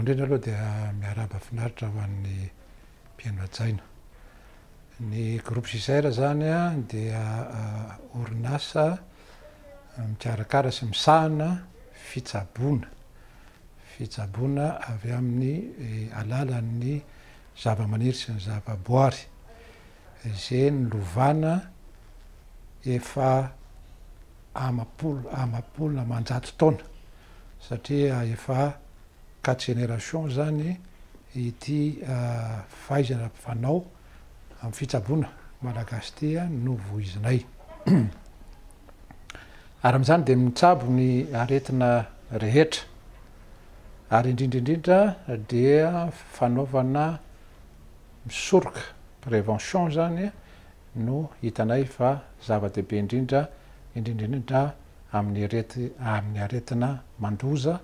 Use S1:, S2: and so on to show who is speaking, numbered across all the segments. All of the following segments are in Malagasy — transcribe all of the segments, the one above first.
S1: indrindra aloha dia miarahaba finaritra ho an'ny mpihaino hajaina. Ny groupe Gisèle zany dia ah, orinasa ah, mikarakara sy misahana fitsaboana. Fitsaboana avy amin'ny eh, alalan'ny zavamaniry sy ny zavaboary. ze nilovana efa amapolo amapolo amanjato taona satria efa quatre générations zany ity fahaizana fanao am fitsaboana malagasy ty no voizinay ary amzany de mitsabo ny aretina rehetra ary indrindra indrindra dia fanaovana misoroka, prévention, izany no hitanay fa zava-dehibe indrindra, indrindra indrindra amin'ny aretina mandoza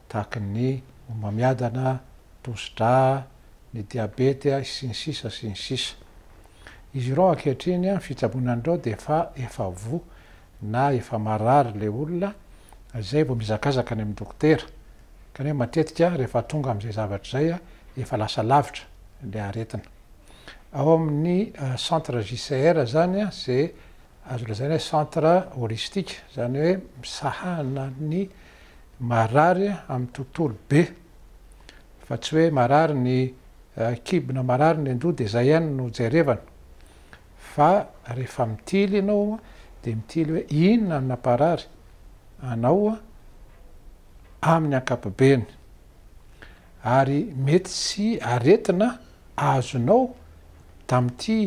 S1: tahaka ny homamiadana, tosidra, ny diabety, sy ny sisa sy ny sisa. Izy ireo ankehitriny, ny fitsaboana an'ireo dia efa efa voa. na efa marary ilay olona, izay vao mihazakazaka any amin'ny dokotera. Kanefa matetika rehefa tonga amin'izay zavatra izay, efa lasa lavitra ilay aretina. Ao amin'ny centre JCR izany, izay azo lazaina hoe centre holistique, izany hoe misahana ny marary amin'ny tontolo be, fa tsy hoe marary ny kibo na marary ny an-doha dia izay ihany no jerevana, fa rehefa mitily ianao dia mitily hoe inona no namparary anao amin'ny ankapobeny ary mety tsy aretina azonao tamin'ity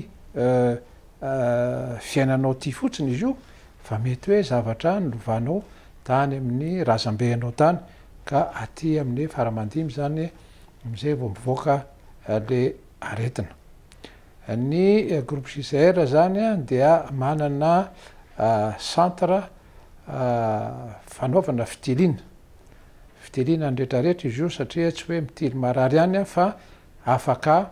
S1: fiainanao ity fotsiny izy io fa mety hoe zavatra nilovanao tany amin'ny razambe anao tany ka aty amin'ny faramandimby izany amin'izay vao mivoaka le aretina. Ny groupe JCR izany dia manana centre fanaovana fitiliana. Fitiliana ny rehetrarehetra izy io satria tsy hoe mitily marary ihany fa afaka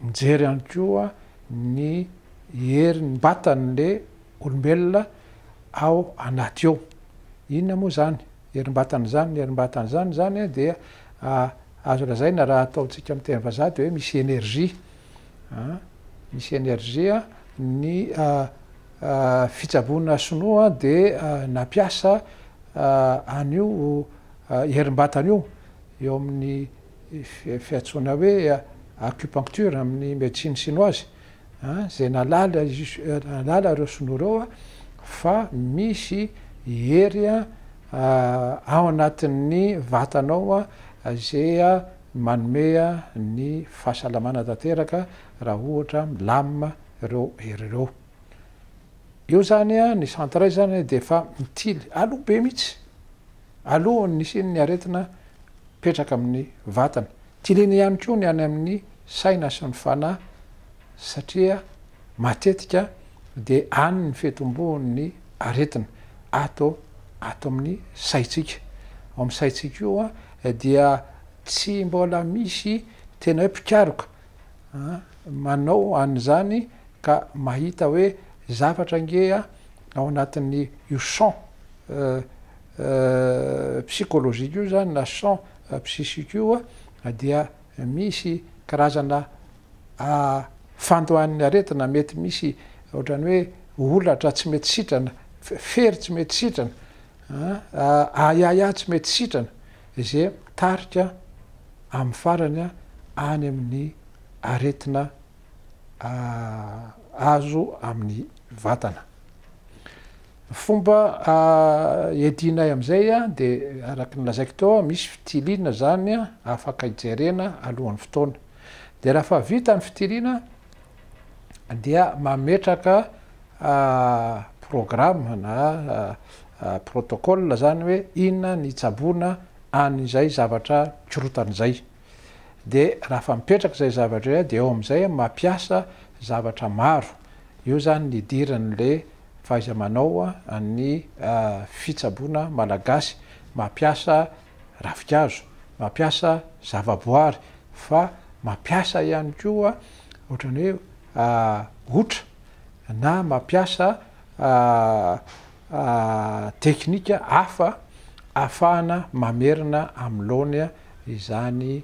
S1: mijery ihany koa ny herin'ny vatan'ilay olombelona ao anaty ao. Inona moa izany herim-batana izany? Ny herim-batana izany izany dia azo lazaina raha ataontsika amin'ny teny vazaha dia hoe misy énergie Misy energie ny fitsaboana sinoa dia nampiasa an'io herim-batana io eo amin'ny fiantsoana hoe acupuncture amin'ny médecine chinoise izay nahalala nahalala ireo sinoa ireo fa misy hery ao anatin'ny vatanao izay Manome ny fahasalamana tanteraka raha ohatra milamina ireo hery ireo. Io izany ny centre iray izany dia efa mitily aloha be mihitsy alohan'ny hisian'ny aretina mipetraka amin'ny vatana. Tiliana ihany koa ny any amin'ny saina sy ny fanahy satria matetika dia any ny fitomboan'ny aretina ato ato amin'ny saintsika. Ao amin'ny saintsika io. dia tsy mbola misy tena hoe mpikaroka manao an'izany ka mahita hoe zavatra ange ao anatin'ny io champ psychologique io zany na champ psychique io dia misy karazana fandoan'ny aretina mety misy ohatran'ny hoe holatra tsy mety sitrana, fery tsy mety sitrana Aa ahiahiahy tsy mety sitrana izay mitarika amin'ny farany any amin'ny aretina azo amin'ny vatana. Ny fomba iadianay amin'izay dia araka ny lazaiko teo, misy fitiliana izany afaka hijerena alohan'ny fotoana. Dia raha efa vita ny fitiliana, dia mametraka programme na protocole zany hoe inona ny hitsaboana an'izay zavatra mikorotana izay. Dia raha efa mipetraka izay zavatra izay dia eo amin'izay mampiasa zavatra maro. Io zany ny idiran'ilay fahaiza-manao an'ny fitsaboana malagasy. Mampiasa ravin-kazo, mampiasa zava-boary fa mampiasa ihany koa ohatran'ny hoe otra na mampiasa teknika hafa ahafahana mamerina amin'ny laony izany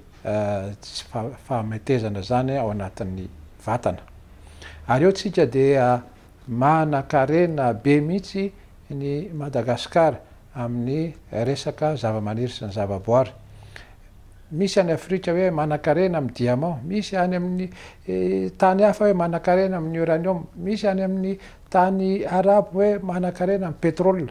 S1: fahametezana izany ao anatin'ny vatana. Ary eo tsika dia Manan-karena be mihitsy ny Madagasikara amin'ny resaka zavamaniry sy ny zavaboary. Misy any Afrika hoe manan-karena amin'ny diamant, misy any amin'ny tany hafa hoe manan-karena amin'ny uranium, misy any amin'ny tany arabo hoe manan-karena amin'ny pétrole.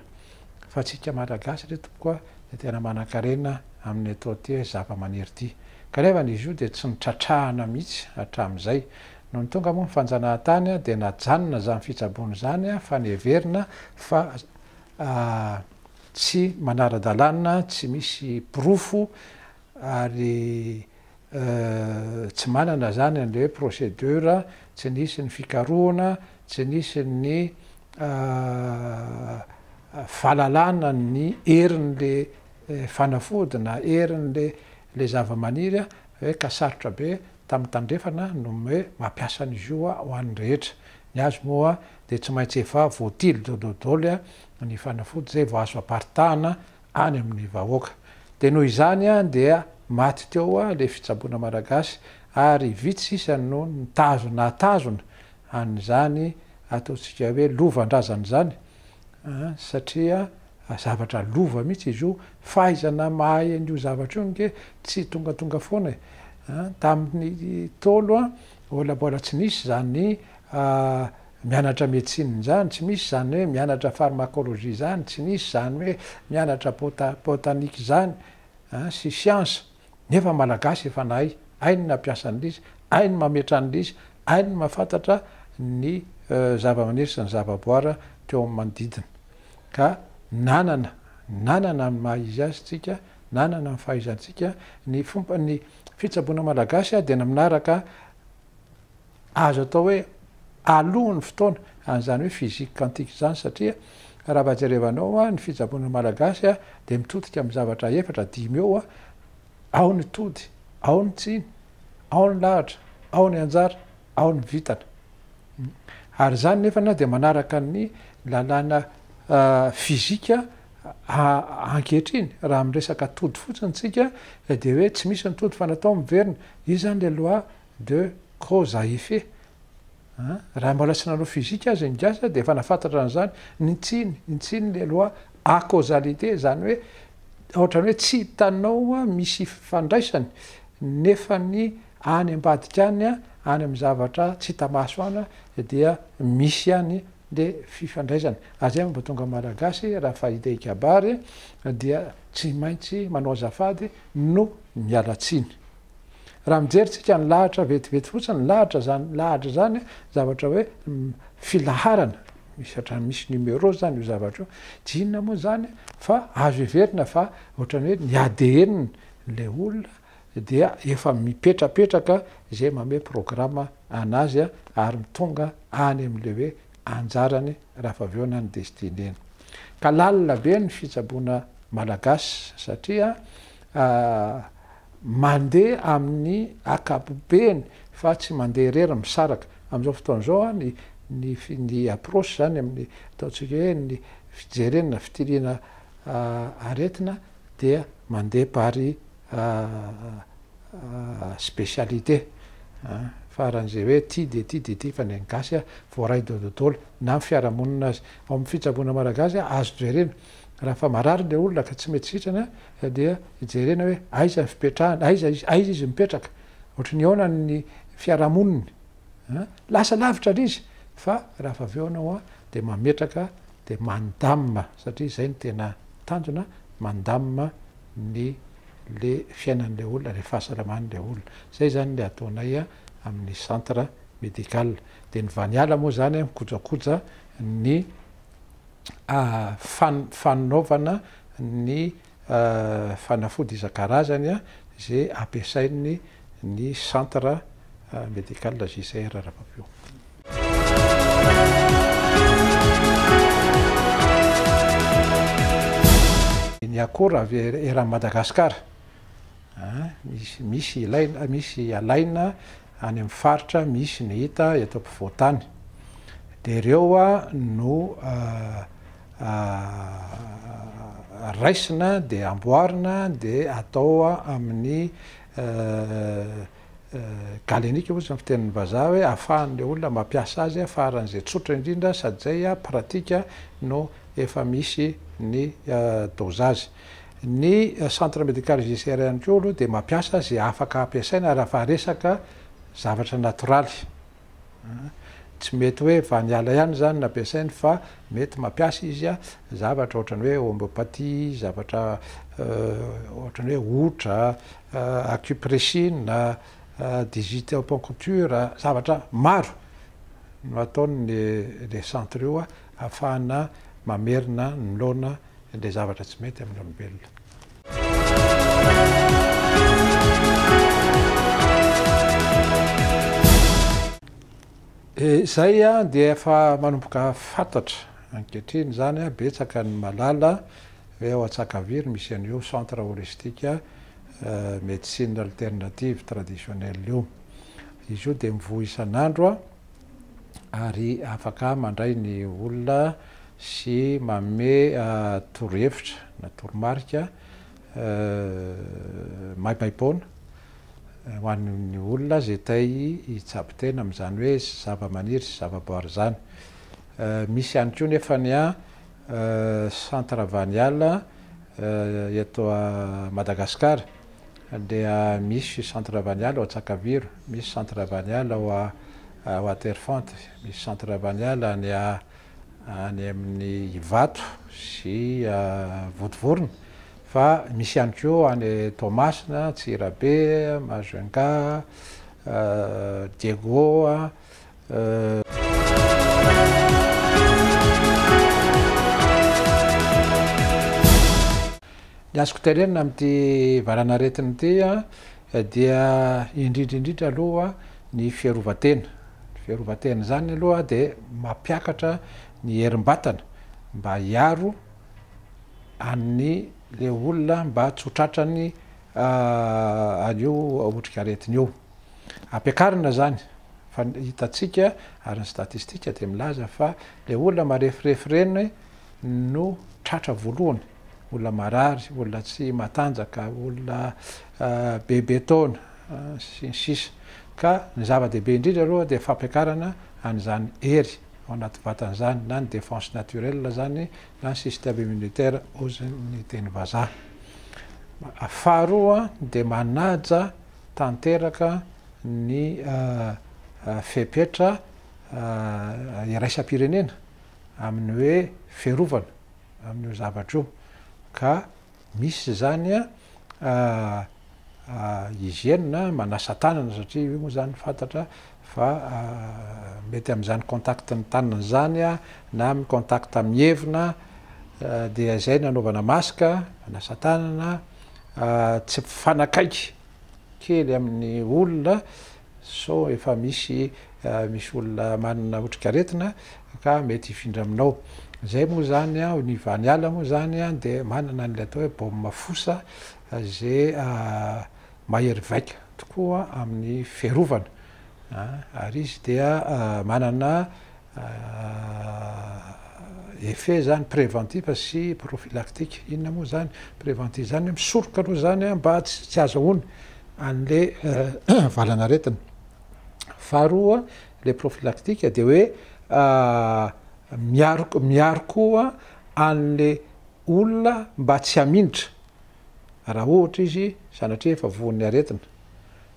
S1: Fa antsika Malagasy re tompoko a, dia tena manan-karena amin'ity zavamaniry ity. Kanefa izy io dia tsy notratrahana mihitsy hatramin'izay. Nony tonga moa ny fanjanahantany dia najanona izany fitsaboana izany fa niheverina fa tsy manara-dalàna, tsy misy porofo ary tsy manana izany an'ilay hoe procédure, tsy nisy ny fikarohana, tsy nisy ny fahalalana ny herin'ilay fanafody na herin'ilay zavamaniry hoe ka sarotra be Tamin'ny Tandrefana no hoe mampiasa ny zo ho an'ny rehetra. Ny azy moa dia tsy maintsy efa voatily dododly ny fanafody izay vao azo aparitahana any amin'ny vahoaka. Dia noho izany dia maty teo ilay fitsaboana malagasy ary vitsy sisa no nitazona nahatazona an'izany ataontsika hoe lovan-drazana izany. satria zavatra lova mihitsy izy io, fahaizana mahay an'io zavatra io ange tsy tongatonga foana e! tamin'ny Ntaolo mbola mbola tsy nisy izany mianatra médecine izany, tsy misy izany hoe mianatra pharmacologie izany, tsy nisy izany hoe mianatra botanique izany sy siansa. Nefa Malagasy efa nahay, hainy ny hampiasa ny lisy, hainy ny mametraha ny lisy, hainy ny mahafantatra ny zava-maniry sy ny zava-boara teo amin'ny manodidina. Ka nanana, nanana ny maha izy azy tsika, nanana ny fahaizantsika, ny fomba, ny fitsaboana Malagasy dia ny manaraka azo atao hoe alohan'ny fotoana an'izany hoe physique quantique izany satria raha vao jerevanao ny fitsaboana malagasy dia mitodika amin'ny zavatra efatra dimy eo ao ny tody ao ny tsiny ao ny lahatra ao ny anjara ao ny vitana ary izany nefana dia manaraka ny lalàna fizika ankehitriny raha miresaka tody fotsiny tsika dia hoe tsy misy ny tody fa natao miverina Io zany le loi de cause à effet an! Raha mbola tsy nanao physique aza ny gasy dia efa nafantatra an'izany, ny tsiny, ny tsiny le loi à causalité izany hoe ohatrany hoe tsy hitanao misy ifandraisany nefa ny any ambadika any, any amin'ny zavatra tsy hita maso any dia misy ihany le fifandraisana. Azay mba tonga malagasy raha fahita hikabary dia tsy maintsy manao azafady no miala tsiny. Raha mijery tsika ny lahatra vetivety fotsiny ny lahatra zany lahatra zany zavatra hoe filaharana misy otrany misy numéro zany io zavatra io tsy inona moa zany fa azo heverina fa otrany hoe ny ADN le olona dia efa mipetrapetraka izay mamehy programa anazy ary mitonga any amin'ilay hoe anjarany raha fa avy eo na ny destineny. Ka lalina be ny fitsaboana malagasy satria mandeha amin'ny akapobeny fa tsy mandeha irery misaraka. Amin'izao fotoana izao ny ny approche izany amin'ny ataontsika hoe ny fijerena na fitiliana aretina dia mandeha par specialité an, faran'izay hoe ty dia ty dia ty fa ny an'ny gasy an voaray daholo daholo na ny fiarahamonina aza, ao amin'ny fitsaboana malagasy an azo jerena raha efa marary ilay olona ka tsy mety sitrana dia jerena hoe aiza ny fipetrahany, aiza izy, aiza izy mipetraka, ohatry ny ahoana ny fiarahamoniny an, lasa lavitra ilay izy fa raha efa avy eo ianao an dia mametraka Dia mandamina satria izay no tena tanjona, mandamina ny le fiainan'ilay olona, ilay fahasalaman'ilay olona. Izay izany ilay ataonay amin'ny centre médical. Dia ny Vaniala moa izany mikojakoja ny fanaovana ny fanafody isan-karazany izay ampiasain'ny ny centre médical JCR Rapapiomba. Ny akora avy eran'i Madagasikara, misy misy ilaina, misy alaina. any amin'ny faritra misy ny hita eto ampovoan-tany dia ireo no raisina dia amboarina dia atao amin'ny galenika ozy ny fitenin'ny vazaha hoe ahafahan'ilay olona mampiasa azy faran'izay tsotra indrindra sady izay pratika no efa misy ny dôzazy. Ny Centre Médical JCR ihany koa aloha dia mampiasa izay afaka ampiasaina raha fa resaka zavatra natoraly. Tsy mety hoe vaniala ihany izany no ampiasainy fa mety mampiasa izy zavatra ohatran'ny hoe homeopathie, zavatra ohatran'ny hoe hotra, acupressine, digitaponcture, zavatra maro no ataon'ny le centre io ahafahana mamerina ny noana Indray zavatra tsy mety amin'ny olombelona. Izay dia efa manomboka fantatra ankehitriny izany, betsaka ny mahalala hoe ao Antsakaviro misy an'io centre holistique médecine alternative traditionnelle io. Izy io dia mivoha isan'andro. ary afaka mandray ny olona sy manome torohevitra na toromarika maimaim-poana ho an'ny olona izay te hitsabo tena amin'izany hoe zavamaniry sy zavaboary izany. Misy ihany koa nefa ny centre Vaniala eto Madagasikara. dia misy centre ravaniala ao Antsakaviro, misy centre ravaniala ao Waterfront, misy centre ravaniala any any amin'ny Ivato sy Vontovorona fa misy ihany koa any Toamasina, Antsirabe, Majunga, Diego. Ny azoko tenenina amin'ity valanaretina ity dia indrindra indrindra aloha ny fiarovan-tena. Ny fiarovan-tena izany aloha dia mampiakatra ny herim-batana mba hiaro an'ny le olona mba tsy ho tratran'ny an'io otrikaretina io. Ampiakarina izany fa hitantsika ary ny statistika dia milaza fa ilay olona marefirefy ireny no tratra voalohany, olona marary, olona tsy matanjaka, olona bebe taona sy ny sisa ka ny zava-dehibe indrindra aloha dia fampiakarana an'izany hery ao anaty vatana izany na ny défense naturelle izany na ny système immunitaire hozy ny teny vazaha. Faharoa dia manaja tanteraka ny fepetra iraisam-pirenena amin'ny hoe fiarovana amin'io zavatra io ka misy izany hygiène manasa-tanana satria io moa izany fantatra fa mety amin'izany contact ny tanana izany na amin'ny contact amin'ny hevona dia izay no anaovana masque hanasa tanana tsy mpifanakaiky kely amin'ny olona sao efa misy misy olona manana otrikaretina ka mety hifindra aminao izay moa izany aho ny vaniala moa izany dia manana an'ilay atao hoe baume fosa izay Mahery vaika tokoa amin'ny fiarovana ary izy dia manana effet zany préventif sy prophylactique. Inona moa zany préventif zany? Misoroka aloha zany mba tsy azahoany an'le valan'aretina. Faharoa le prophylactique dia hoe miaro miaro koa an'le olona mba tsy hamindra. raha ohatra izy sanatria efa voan'ny aretina,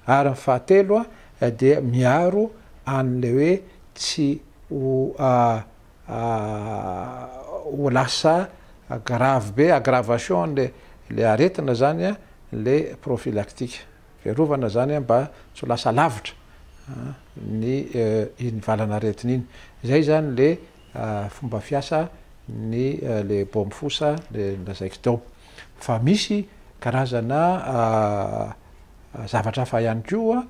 S1: ary ny fahatelo dia miaro an'ilay hoe tsy ho ho lasa gravy be, aggravation an'ilay ilay aretina zany ilay prophylactique, fiarovana zany mba tsy ho lasa lavitra ny iny valan'aretina iny, zay zany le fomba fiasa ny le bômfosa le lazaiko teo. fa misy karazana zavatra hafa ihany koa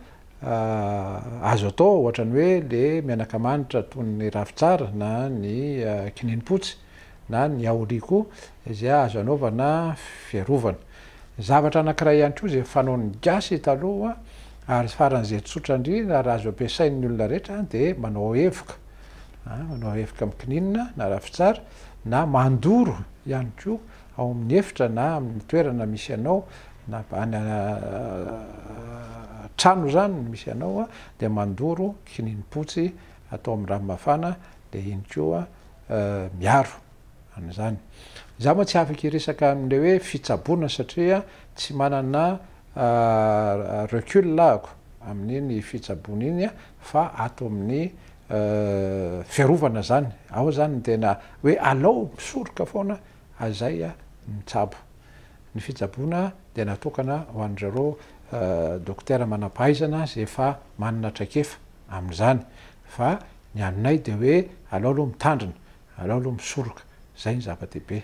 S1: azo atao ohatrany hoe le menaka manitra toy ny ravintsara na ny kininimpotsy na ny yaoli koa izay azo anaovana fiarovana. Zavatra anankiray ihany koa izay fanaon'ny gasy taloha ary faran'izay tsotra indrindra ary azo ampiasain'ny olona rehetra de manao evoka manao evoka mikininina na ravintsara na mandoro ihany koa ao amin'ny efitra na amin'ny toerana misy anao na any an-trano izany no misy anao dia mandoro kininimpotsy atao amin'ny rano mafana dia iny koa miaro an'izany. Izaho moa tsy afaka hiresaka amin'ilay hoe fitsaboana satria tsy manana recul ahako amin'iny fitsaboana iny fa ato amin'ny fiarovana izany, ao izany ny tena hoe alao misoroka foana Azay mitsabo. Ny fitsaboana dia natokana ho an'izareo dokotera manam-pahaizana izay efa manana traikefa amin'izany. Fa ny aminay dia hoe alao aloha mitandrina, alao aloha misoroka. Izay no zava-dehibe.